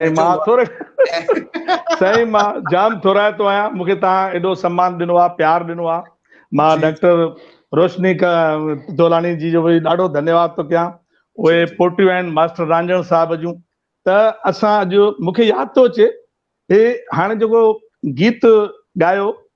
مان ٿوري سائين مان جام ٿورائتو آهيان مونکي تان ايڏو سمان ڏنو آ پيار ڏنو آ مان ڊاڪٽر روشني کا تولاني جي جو ڏاڍو ڌنيواد ٿو ڪيان اوهي پوٽيو آهن ماستر رانجڻ صاحب جون ته اسان اڄ مونکي ياد ٿو اچي هي هاڻي جيڪو گيت ڳايو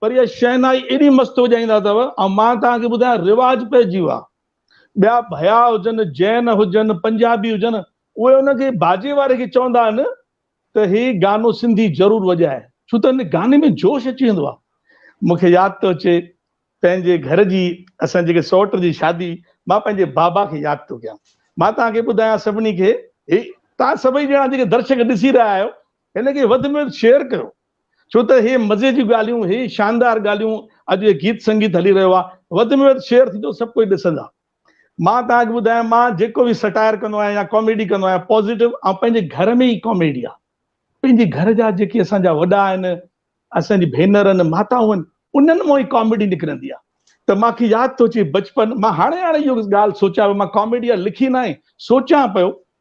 پر اها شهنائي ايڏي مست وڄائيندا اٿو، ۽ مان توهان کي ٻڌايان رواج پئجي ويو آهي. ٻيا ڀيا هجن، جين هجن، پنجابي هجن، اهي ان کي باجي واري کي چوندا آهن ته هي گانو سنڌي ضرور وڄائي، ڇو ته هن گاني ۾ جوش اچي ويندو آهي. مون کي ياد ٿو اچي پنهنجي گهر جي اسان جيڪي سئوٽ جي شادي، مان پنهنجي بابا کي ياد ٿو ڪيان. مان توهان کي ٻڌايان سڀني کي، هي توهان سڀئي ڄڻا جيڪي درشڪ ڏسي رهيا آهيو، هن کي وڌ ۾ وڌ شيئر ڪريو. ڇو ته هي مزي جون ڳالهيون، هي شاندار ڳالهيون، اڄ هي گيت سنگيت هلي رهيو آهي، وڌ ۾ وڌ شيئر ٿيندو، سڀ ڪجهه ڏسندا. مان توهان کي ٻڌايان، مان جيڪو به سٽائر ڪندو آهيان يا ڪاميڊي ڪندو آهيان، پازيٽو ۽ پنهنجي گهر ۾ ئي ڪاميڊي آهي. پنهنجي گهر جا جيڪي اسان جا وڏا آهن، اسان جي ڀينر آهن، ماتائون آهن، انهن مان ئي ڪاميڊي نڪرندي آهي. ته مان کي ياد ٿو اچي بچپن، مان هاڻي هاڻي اهو ڳالهه سوچيان پيو، مان ڪاميڊي يا لکي ناهي، سوچيان پيو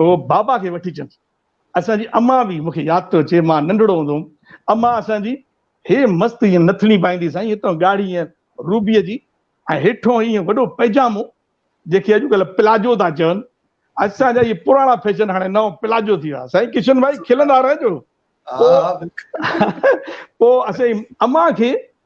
هو بابا کي وٺي چيس، اسان جي امان به مونکي ياد ٿو اچي، مان ننڍڙو هوندو هوم، امان اسان جي هي مست ائين نٿڻي پائيندي سائين، هتان ڳاڙهي ائين روبيء جي ۽ هيٺون ائين وڏو پئجامو، جنهن کي اڄڪلهه پلاجو ٿا چون، اسان جا اهي پراڻا فيشن هاڻي نئون پلاجو ٿي ويا، سائين ڪشن ڀائي کلندا رهجو. پوء اسين امان کي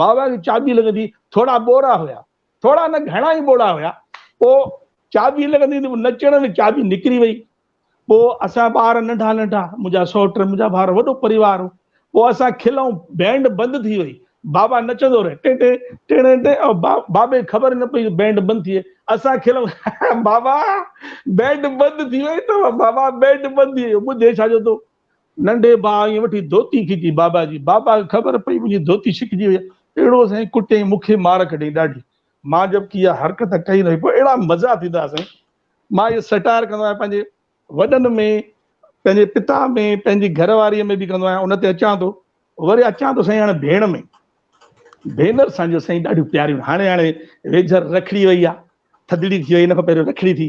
باوا کي چاٻي لڳندي ٿورا ٻوڙا هيا. ٿورا نه گهڻا ئي ٻوڙا هيا. پوء چاٻي لڳندي ته نچڻ ۾ چاٻي نڪري وئي. پوء اسان ٻار ننڍا ننڍا، منهنجا سئوٽ، منهنجا ڀائر، وڏو پريوار هو. پوء اسان کلئون، بينڊ بند ٿي وئي. باوا نچندو رهي، ٽين ٽين، ٽڻين ٽين، بابي خبر ئي نه پئي ته بينڊ بند ٿي وئي. اسان کلئون، ها ها باوا بينڊ بند ٿي وئي اٿو، باوا بينڊ بند ٿي ويو، ٻڌي ڇا جو تو؟ ننڍي ڀاء ائين وٺي ڌوتي کيچي بابا جي. بابا کي خبر پئي منهنجي ڌوتي ڇڪجي وئي. اهڙو سائين ڪٽيائين مون کي مار ڪڍيائين ڏاڍي. مان جبڪه اها حرڪت ڪئي نه هئي پر اهڙا مزا ٿيندا ها سائين. مان اهو سٽائر ڪندو آهيان پنهنجي وڏن ۾ پنهنجي پتا ۾ پنهنجي گهر واري ۾ به ڪندو آهيان ان تي اچان ٿو وري اچان ٿو سائين هاڻي ڀيڻ ۾ ڀينر سان جو سائين ڏاڍيون پياريون هاڻي هاڻي ويجهر رکڙي وئي آهي ٿڌڙي ٿي وئي ان کان پهريون رکڙي ٿي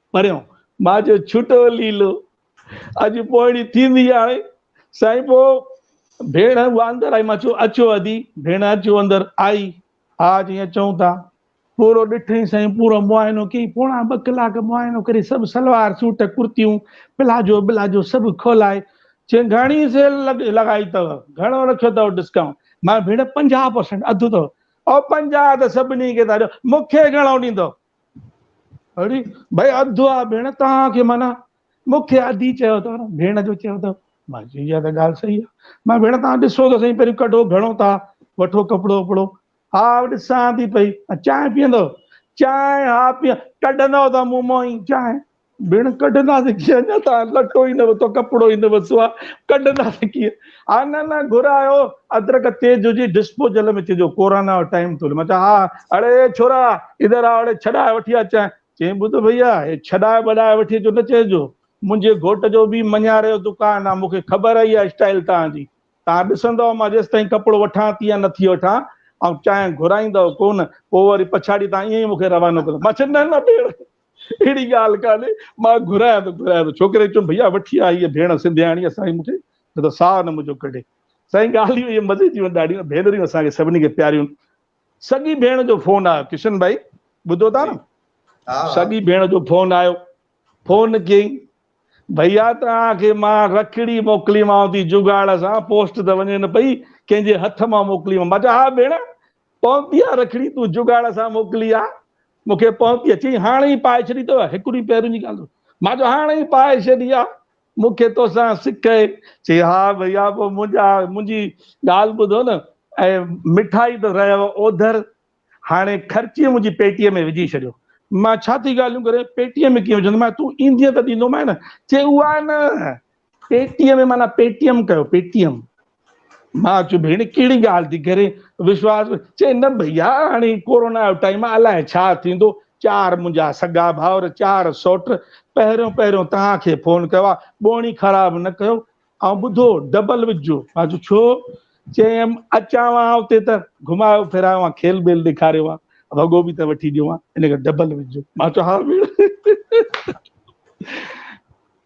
پريون مان جو ڇٽو ليلو. اڄ پوئڻي ٿيندي هاڻي سائين پو ڀيڻ اها اندر آئي مان چيو اچو ادي ڀيڻ اچو اندر آئي ها جي اچون ٿا پورو ڏٺئي سائين پورو معائنو ڪيئي پوڻا ٻه ڪلاڪ معائنو ڪري سڀ سلوار سوٽ ڪرتيون پلاجو بلاجو سڀ کولائي چين گهڻي سيل لڳائي اٿو گهڻو رکيو اٿو ڊسڪائونٽ مان ڀيڻ پنجاهه پرسنٽ اڌ اٿو او پنجاهه ته سڀني کي ٿا ڏيو مون کي گهڻو ڏيندو اڙي ڀاء اڌ آ ڀيڻ توهان کي معنيٰ مون کي اڌي چيو اٿو نه ڀيڻ جو چيو اٿو مان چيو اها ته ڳالهه صحيح آ مان ڀيڻ توهان ڏسو ته سهي پهريون ڪڍو گهڻو ٿا وٺو ڪپڙو وپڙو ها ڏسان ٿي پئي چانهه پيئندو چانهه ها پيئان ڪڍندو ته مون مون ئي چانهه ڀيڻ ڪڍنداسين ڪيئن اڃا ته لٽو ئي نه وتو ڪپڙو ئي نه وسو آ ڪڍنداسين ڪيئن ها نه نه گهرايو ادرڪ تيز هجي ڊسپوزل ۾ چئجو ڪورانا جو ٽائيم ٿو هلي مان چيو ها اڙي ڇورا ادھر آ اڙي ڇڏائي وٺي اچين چئين ٻڌ ڀئيا هي ڇڏائي ٻڏائي وٺي اچو نه چئجو منھنجي گهوٽ جو ٻي مڃاري جو دڪان آ مون کي خبر آ اها اسٽائيل تان جي تان ڏسندؤ مان جيستائين ڪپڙو وٺان ٿي يا نٿي وٺان آئون چانهه گهرائيندؤ ڪونه پوء وري پڇاڙي تان ائين ئي مون کي روانو ڪندؤ مان چيو نه نه ڀيڻ اهڙي ڳالهه ڪانهي، مان گهرايان ته گهرايان ته ڇوڪري چيو ڀئيا وٺي آ هيء ڀيڻ سنڌياڻي اسان کي نه ته ساهه نه منهنجو ڪڍي. سائين ڳالهيون اهي مزي جون آهن ڏاڍيون ڀينريون اسان کي سڀني کي پياريون. سڳي ڀيڻ جو فون آيو ڪشن ڀائي ٻڌو ٿا نه سڳي ڀيڻ جو فون آيو فون ڪيئين ڀئيا توهان کي مان رکڙي موڪليمانو ٿي جگاڙ سان پوسٽ ته وڃي نه پئي ڪنهن جي هٿ مان موڪليمانو مان چيو ها ڀيڻ پونپي آ رکڙي تون جگاڙ سان موڪلي آ مون کي پونپي چي هاڻ ئي پائي ڇڏي تو هڪ ڏينهن پهرين جي ڳالهه مان جو هاڻ ئي پائي ڇڏي آ مون کي توسان سڪ اهي چي ها ڀئيا پو منهنجا منهنجي ڳالهه ٻڌو نه ۽ مٺائي ته رهيو اوڌر هاڻي خرچي منهنجي پيٽي ۾ وجهي ڇڏيو مان ڇا ٿي ڳالهيون ڪرين پيٽي ۾ ڪيئن وجهندومانء تون ايندينء ته ڏيندومانء نه چي اها نه پيٽيء ۾ معنيٰ پيٽيم ڪيو پيٽيم. مان چيو ڀيڻ ڪهڙي ڳالهه ٿي ڪرين وشواس چي نه ڀئيا هاڻي ڪورونا جو ٽائيم آهي الائي ڇا ٿيندو چار منهنجا سگا ڀائر چار سوٽ پهريون پهريون توهان کي فون ڪيو آهي ٻوڻي خراب نه ڪيو ۽ ٻڌو ڊبل وجهو مان چيو ڇو چيم اچان ها اتي ته گهمايو ڦرايو ها کيل ٻيل ڏيکاريو ها وڳو به ته وٺي ڏيو ها ان کي ڊبل وجهو مان چيو ها ڀيڻ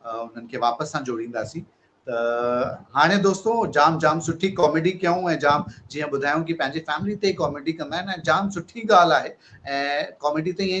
انهن کي واپس سان جوڙينداسين ته هاڻي دوستو جام جام سٺي ڪاميڊي ڪيائون ۽ جام جيئن ٻڌايائون ڪي پنهنجي فيملي تي ڪاميڊي ڪندا آهن ۽ جام سٺي ڳالهه آهي ۽ ڪاميڊي تي ائين